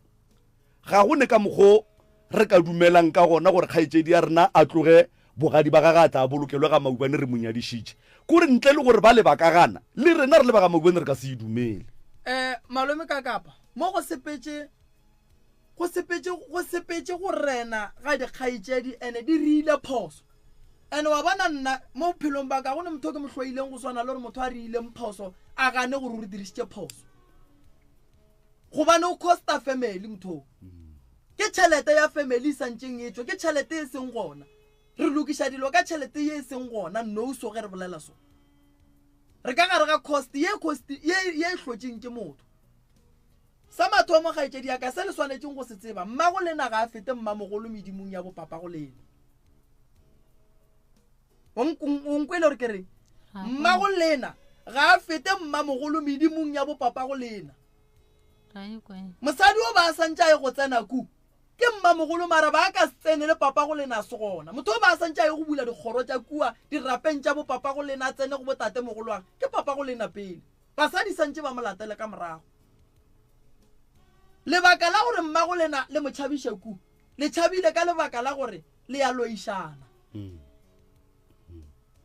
ga go ne ka mokgo re ka dumelang ka gona gore kgaetšedi ya rena a tloge bogadi ba gage a tla bolokelwe ga maubane re monyadišitše kore ntle le gore ba le ba ka gana le rena re le ba ga maubane re ka se e dumele um malome ka kapa mo go sepetše Go sepetše, go sepetše go rena ga dikgaetšedi, ene di riile phoso. Ene wa bona, nna, mo bophelong bwa ka, ga go ne motho o ke mo hloileng go swana le gore motho a riileng phoso a gane gore o re dirišitše phoso. Gobane o costa family motho o. Ke tšhelete ya family e santšeng e tšwa, ke tšhelete e seng gona. Re lokiša dilo ka tšhelete ye e seng gona nou so ge re bolela so. Re ka gare ga cost, ye cost, ye, ye e hlotšeng ke motho. Sa mathomo, kgaetšedi ya ka, se le swanetšeng go se tseba, mmago lena ga a fete mmamogolo medimong ya bopapa go lena. O nk- o nk- o nkwele gore ke reng? Mmago lena ga a fete mmamogolo medimong ya bopapa go lena. Ga e kwe. Mosadi o ba a santše a ye go tsena ku, ke mmamogolo mara ba a ka se tsene le papa go lena a se gona. Motho o ba a santše a ye go bula dikgoro tša kua dirapeng tša bopapa go lena a tsene go botatemogolo wa ge, ke papa go lena pele. Basadi sa ntše ba mo latele ka morago. Lebaka la gore mmago le na le mo tšhabiše ku le tšhabile ka lebaka la gore le ya loišana.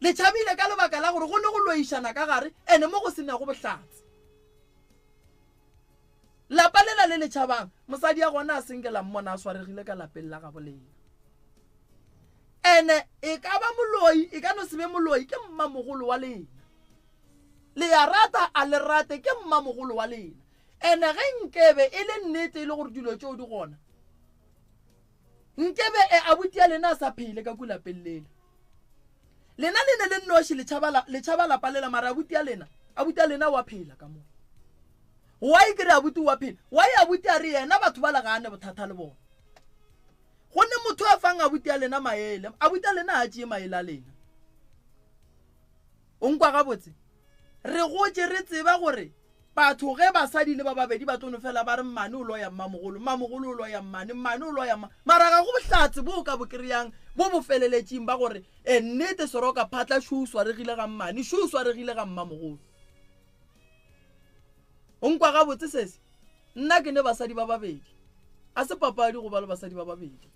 Le tšhabile ka lebaka la gore go ne go loišana ka gare ene mo go se nago bohlatse. Lapa lela le le tšhabang, mosadi ya gona a senge la mmona a swaregile ka lapeng la gabo lena. Ene e ka ba moloi, e ka no se be moloi, ke mmamogolo wa lena. Le ya rata a le rate ke mmamogolo wa lena. Ene ge nkebe e le nnete e le gore dilo tšeo di gona, nkebe e abuti ya lena a sa phele ka ku lapeng lela. Lena le ne le nnoši le tšhaba la, le tšhaba lapa lela mara abuti ya lena, abuti ya lena wa phela ka mo. Why ke re abuti wa phela? Why abuti a re yena batho bala ga a ne bothata le bona? Gonne motho a fang abuti ya lena maele, abuti ya lena ga a tšee maele a lena. O nkwa gabotse? Re gotše re tseba gore batho ge basadi le ba babedi ba tlo no fela ba re mmane o loya mmamogolo, mmamogolo o loya mmane, mmane o loya mma. Mara ga go bohlatse bo o ka bo kry-ang bo bo feleletšeng ba gore e nnete Soroka Phatla šo o swaregile ga mmane, šo o swaregile ga mmamogolo. O nkwa gabotse sese? Nna ke ne basadi ba babedi. A se papadi go ba le basadi ba babedi.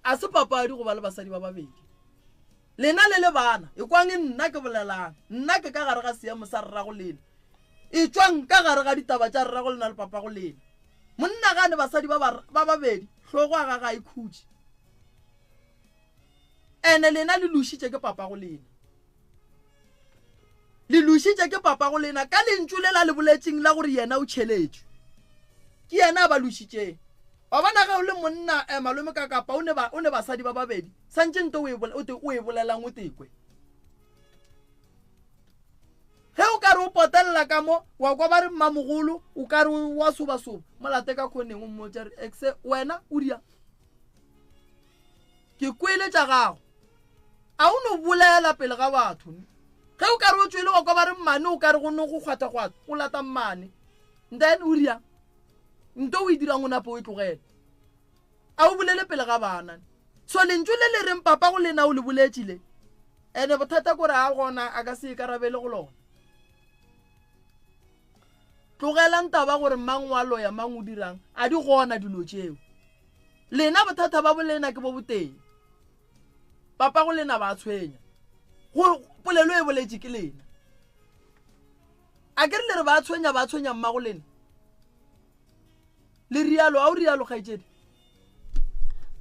A se papadi go ba le basadi ba babedi. Lena le le bana, ekwang nna ke bolelang. Nna ke ka gare ga seemo sa rrago lena. Etšwang ka gare ga ditaba tša rrago lena le papago lena. Monna ga a ne basadi ba ba babedi, hlogo a ga ga e khutše. Ene lena le lošitše ke papago lena. Le lošitše ke papago lena ka lentšu le la le boletšeng la gore yena o tšheletšwe. Ke yena a ba lošitšeng. Wa bona, ge o le monna, eh, malome, ka, kapa o ne ba, o ne basadi ba babedi, santše nto o e bole, o te, o e bolelang o te kwe. Ge o ka re o potelela ka mo, wa kwa ba re mmamogolo, o ka re wa sobasoba, mo late ka khoneng, o mmotša re, Exe, wena, o ria? Ke kwele tša gago. A o no bolela pele ga batho? Ge o ka re o tšwele wa kwa ba re mmane o ka re go no go kgwathakgwatha, o lata mmane. Then o riang? Nto o e dirang o nape o e tlogele. A o bolele pele ga bana. So lentšu le le reng papa go lena o le boletše le? Ene bothata kore a gona a ka se ikarabele go lona. Tlogelang taba gore mang wa loya mang o dirang, a di gona dilo tšeo. lena bothata ba bolena ke bo boteng papa go lena ba tshwenya go polelo e boletše ke lena a ke re le re ba tshwenya ba tshwenya mma go lena le rialo a o rialo kgaitsedi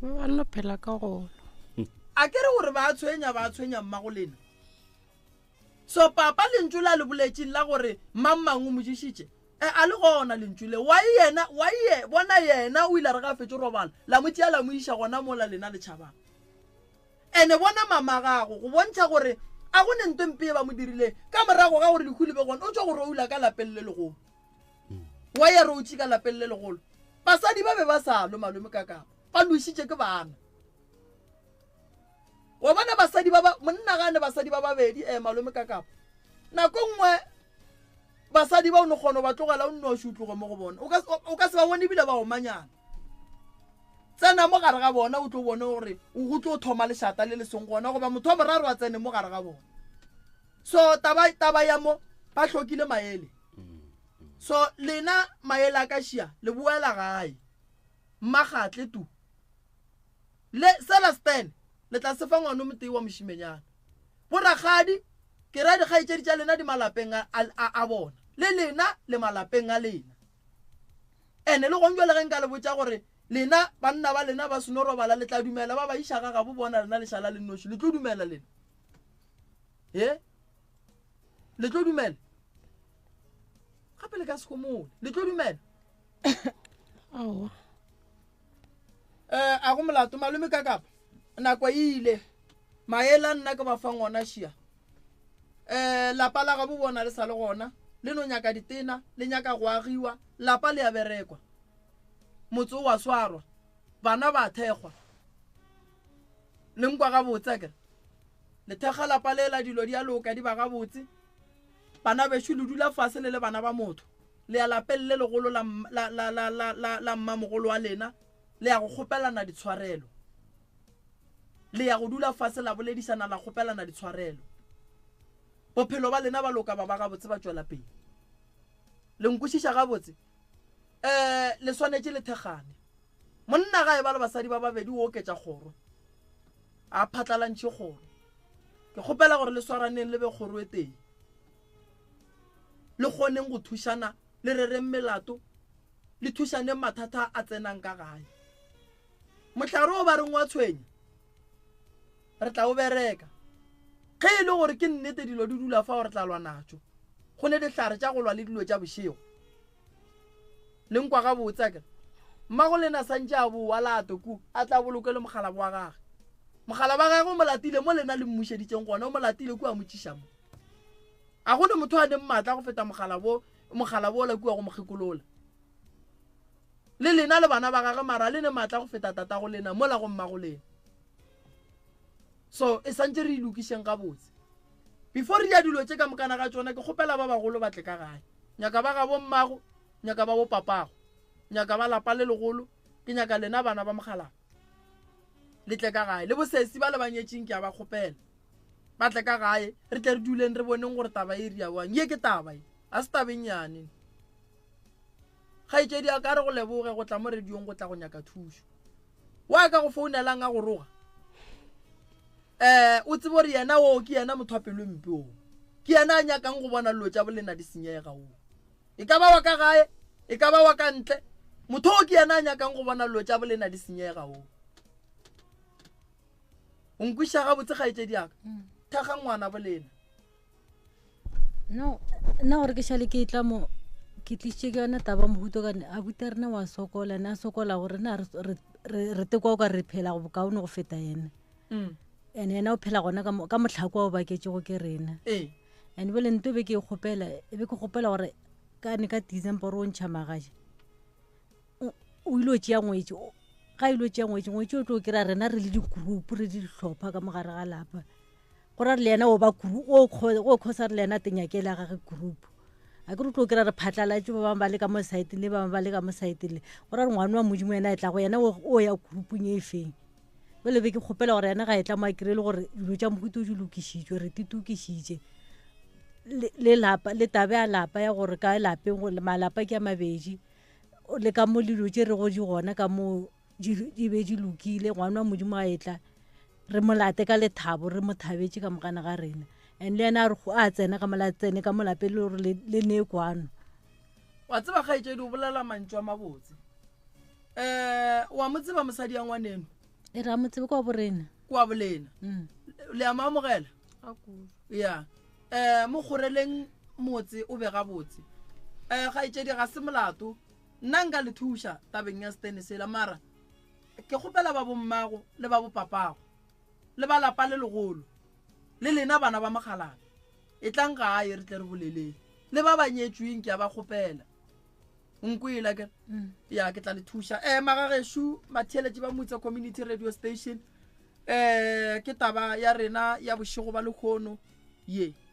ba no phela ka golo a ke re gore ba tshwenya ba tshwenya mma go lena So Papa, Lentšu la le boletšeng la gore mang-mang o mo ješitše, e, a le gona Lentšu le. Why Yena, why Ye, bona Yena o ile a re ge a fetše robala, la Mo tšea la Mo iša gona mola lena le tšhabang. And bona Mamagago, go bontšha gore a go ne nto e mpe ye ba Mo dirileng, ka morago ga gore lehu le be gona, o tšwa go roula ka lapeng le legolo. Why a routše ka lapeng le legolo? Basadi ba be ba sa lwe, malome, ka kapa ba lwešitše ke bana. Wa bona basadi ba ba, monna ga a ne basadi ba babedi, eh, malome ka kapo. Nako nngwe basadi ba o ne kgona ba tlogela o nnoši o tloge mo go bona. O ka, o ka se ba bone ebile ba omanyana. Tsena mo gare ga bona o tlo bone gore go tlo thoma lešata le le seng gona goba motho wa boraro a tsene mo gare ga bona. So taba, taba ya mo ba hlokile maele. So lena maele a ka šia le boela gae. Mmagathle tu. Le sela Stan, le tla se fa ngwanomotee wa mošimenyana. Borakgadi, ke ra dikgaetšedi tša lena di malapeng a, a, a bona, le lena le malapeng a lena. Ene le gong jwale ge nka le botša gore lena banna ba lena ba seno robala, le tla dumela ba ba iša ga gabo bona lena le šala le nnoši? Le tlo dumela lena? He? Le tlo dumela? Gape le ka se homole. Le tlo dumela? Aowa. um a go molato malome ka kapa nako e ile maele a nna ke ba fang ona šia um lapa la gabo bona le sa le gona le no nyaka ditena le nyaka go agiwa lapa le ya berekwa motse o wa swarwa bana ba thekgwa le nkwa gabotse kere le thekga lapa le la dilo di a loka di ba gabotse Bana bešo, le dula fase le le bana ba motho, le ya lapeng le legolo la, la, la, la, la, la, la mmamogolo wa lena, le ya go kgopelana ditshwarelo. Le ya go dula fase la boledišana, la kgopelana ditshwarelo. Bophelo ba lena ba loka ba ba gabotse, ba tšwela pele. Le nkwešiša gabotse? Ee, le swanetše le thekgane. Monna ga e ba le basadi ba babedi o oketša kgoro. Ga a phatlalantšhe kgoro. Ke kgopela gore le swaraneng le be kgoro e tee. Le kgoneng go thušana, le rereng melato, le thušaneng mathata a tsenang ka gae. Mohlare o ba reng wa tshwenya? Re tla o bereka. Ge e le gore ke nnete dilo di dula fao re tla lwa natšo. Go ne dihlare tša go lwa le dilo tša bošego. Le nkwa gabotse a kere? Mmago le na santše a bowa la atwe kua, a tla bolokwe le mokgalabo wa gage. Mokgalabo wa gage o mo latile mo lena le mmušeditseng gona, o mo latile kua a mo tšiša mo. A go ne motho a neng matla go feta mokgalabo, mokgalabo ola kua go mo kgekolola. Le lena le bana ba gage mara le ne matla go feta tatago lena mola go mmago lena. so e santse re ilokišeng gabotse before re ya dilo tše ka mokana ga tsona ke kgopela ba bagolo batle ka gae nyaka ba gabo mmago nyaka ba bo papago nyaka ba lapa le legolo ke nyaka lena bana ba mogalago le tle ka gae le bosesi ba le banyetšeng ke a ba kgopela ba tle ka gae re tle re duleng re boneng gore taba e riawang ye ke taba e ga se tabeng yane Kgaetšedi a ka re go leboge go tla mo rediong go tla go nyaka thušo. Wa ka go founelang a go roga. Eh, o tsebo re yena oo ke yena motho a pelo mpe oo. Ke yena a nyakang go bona lo tša bolena di senyega oo. E ka ba wa ka gae, e ka ba wa ka ntle, motho oo ke yena a nyakang go bona lo tša bolena di senyega oo. O nkwiša gabotse kgaetšedi a ka? Mm. Thakga ngwana bolena. no nna gore ke šale ke tla mo ke tlisitše ke yone taba mohuto kane a buta rena wa sokola ene a sokola gore na re tekwa o ka re phela go bokaone go feta ene mm. and ena o phela gona ka motlhako wa o baketsego ke rena ee. and bele nto be ke e kgopela e be ke kgopela gore kane ka december o ntšha magaje o ile o tšea ngwetse ga ile o tšea ngwetse ngwetse o tlo kry-a rena re le di-group re le ditlhopha ka mogare ga lapa go ra re le yena o ba kuru o kgo o kgo sa re le yena te nyakele a gage group a ke re tlo kira re phatlalatše ba bang ba le ka mo site le ba bang ba le ka mo site le go ra re ngwana wa modimo yena e tla go yena o ya groupung e feng o lebe ke kgopela gore yena ga e tla mo a kire le gore dilo tša mohuto o di lokišitšwe re ti tokišitše le lapa le tabe a lapa ya gore ka lapeng go malapa ke a mabedi le ka mo lilo tše re go di gona ka mo di be di lokile ngwana wa modimo a etla re molate ka lethabo re mo thabetse ka mogana ga rena and le ene a re go a tsena ka mola tsene ka molape le gore le ne kwano wa tseba ga etse di bolela mantšwa mabotse eh wa mo tseba mosadi ya ngwaneno e ra mo tsebe kwa borena kwa bolena mm. le ama amogela ya eh mo goreleng motse o be ga botse eh ga etse di ga se molato Nna nka le thuša tabeng ya setene sela, mara ke kgopela babo mmago le babo papago le ba lapa le legolo le lena bana ba mokgalabje e tlang gae re tle re boleleng le ba ba nyetšweng ke a ba kgopela nkwela ke mm. ya ke tla le thuša um magageshu matheeletše ba motse community radio station um ke taba ya rena ya bošego ba lekgono ye yeah.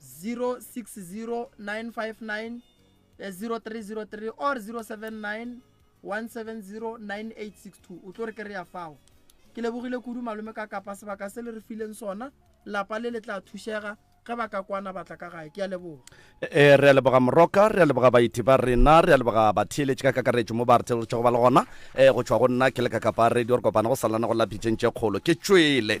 060 959 0303 or 079 1709862 o tlo re kry-a fao ke lebogile kudu malome ka kapa sebaka se le re fileng sona lapa le le tla thušega ge ba ka kwana batla ka gae ke a leboga e re a leboga moroka re a leboga baiti ba rena re a leboga batheeletši ka kakaretšo mo ba re theeletšego ba le gona e go tšhwa go nna ke le ka kapa radio re kopana go salana go lapitšeng tše kgolo ke tšwele